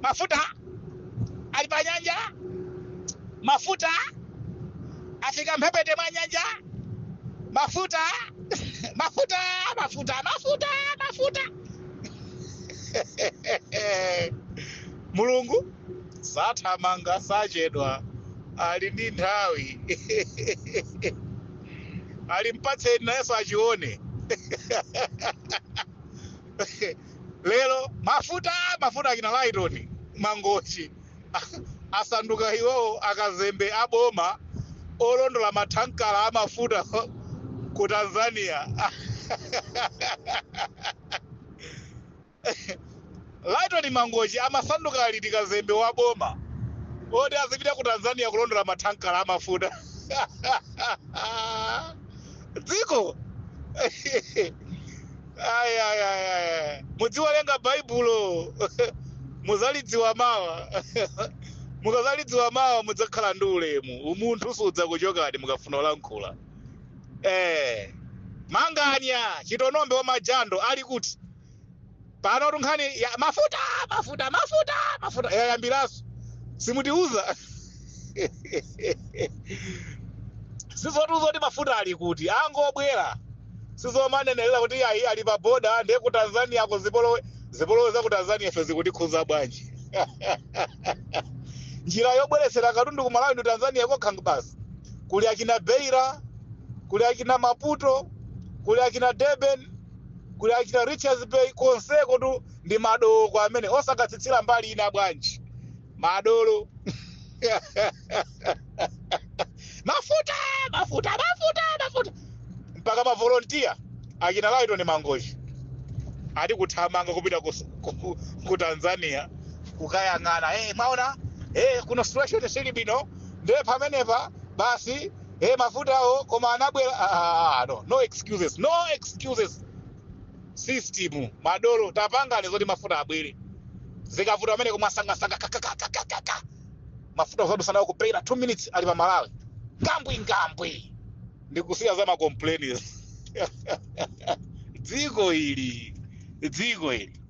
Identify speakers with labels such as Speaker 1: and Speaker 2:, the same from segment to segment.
Speaker 1: mafuta ali pa nyanja mafuta afika mphepete mwa nyanja mafuta mafuta mafuta mafuta mafuta mulungu sathamanga sachedwa ali ndi nthawi alimpatse ni nayenso achione lero mafuta mafuta akina laitoni mangochi asanduka iwowo akazembe aboma olondola mathankala amafuta ku tanzania laitoni mangochi amasanduka liti kazembe wa boma oti azipita ku tanzania kulondola mathankala amafuta dziko ayi ayi ayi ayi mudziwerenga baibulo muzalidziwa mawa mukazalidziwa mawa mudzakhala ndi ulemu umunthu sudzakuchokani mukafuna kulankhula eh manganya chitonombe wa majando ali kuti panotu nkhani ya mafuta mafuta mafuta mafuta yayambiranso simutiuza si zotiuza kuti mafuta ali kuti angobwera si zomanenelera kuti ayi ali pa boda ndiye ku tanzania kuli zipolowe zipolowe za ku tanzania ife zikutikhuza bwanji njira yobweretsera katundu ku malawi ndi tanzania kokha basi kuli akina beira kuli akina maputo kuli akina durban kuli akina richards bay konsekotu ndi madoko amene osakatsitsira mbali ina bwanji madolo mafuta mafuta mafuta mafuta mpaka mavolontiya achina laitoni mangochi ati kuthamanga kupita ku, ku, ku, ku tanzania kukayang'ana hey, mwaona hey, kuna situation sili bwino ndiye pamenepa basi hey, mafutawo koma anabwera ah, ah, ah, no, no excuses no excuses system madolo tapangani zoti mafuta abwere zikavuta amene kumwa sangasanga kakakakakaka mafuta osadusa nawo ku beira 2 minutes ali pa malawi ngambwi ngambwi ndikusiya za makomplainers dziko ili dziko ili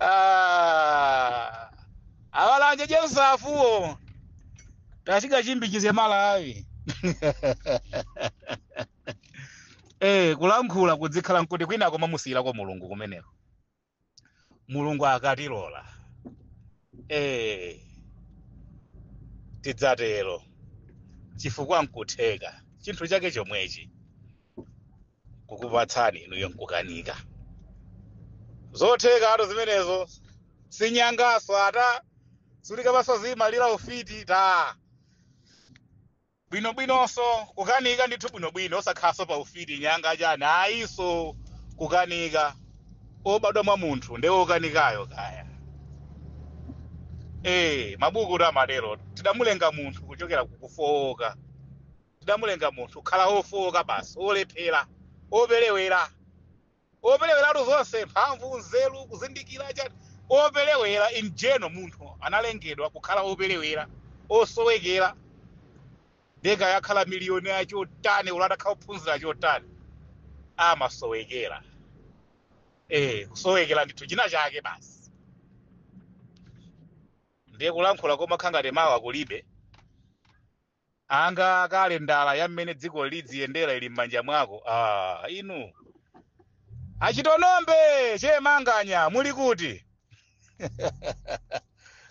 Speaker 1: Ah, abalanje jensafuwo tafika chimbikize malawi eh kulankhula kudzikhala kuti kwina kumamusiyirako mulungu kumeneko mulungu akatilola eh tidzatero chifukwa nkutheka chinthu chake chomwechi kukupatsani inuyo nkukanika zothekatu zimenezo sinyanganso ata sulikapasa zimalira ufiti ta bwinobwinonso nkukanika ndithu bwinobwino osakhalanso pa ufiti nyanga chani ayinso kukanika obadwa mwa munthu nde okanikayo kaya ee mabukutu amatero tidamulenga munthu kuchokera kukufowoka Tidamulenga munthu kukhala wofooka basi, wolephera, wopelewera. Wopeleweratu zonse, mphamvu, nzeru, kuzindikira, chani. Wopelewera in general, munthu analengedwa kukhala wopelewera, wosowekera. Ndiye kaya akhala millionaire chotani, olo atakhala ophunzira chotani, amasowekera. Eh, kusowekera ndithu china chake basi. Ndiye kulankhula komakhala ngati mawa kulibe, ngati kalendala ya mmene dziko lidziyendera ili m'manja mwako ah, inu a Chitonombe Che Manganya muli kuti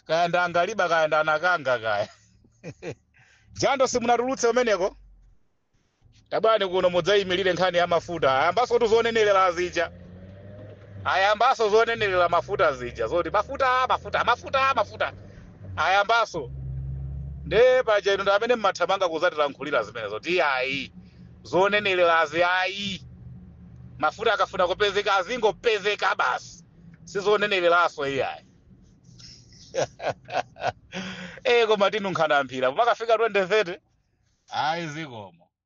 Speaker 1: kaya ndangaliba kaya ndanakanga kaya jando simunatulutse umeneko Tabwani kuno mudzaimilire nkhani ya mafuta. Ayambasotu zonenelela zija. Ayambaso zonenelela mafuta zija. Zoti mafuta, mafuta, mafuta, mafuta. Ayambaso. Nde paja inu ndi amene mmathamanga kuzatilankhulira zimenezo. Kuti iyayi. Zonenelelazi ayi. Mafuta akafuna kupezeka azingopezeka basi. Sizonenelelaso iyayi. Eh koma tinunkha mphira. Pakafika 2030 ayi zikomo.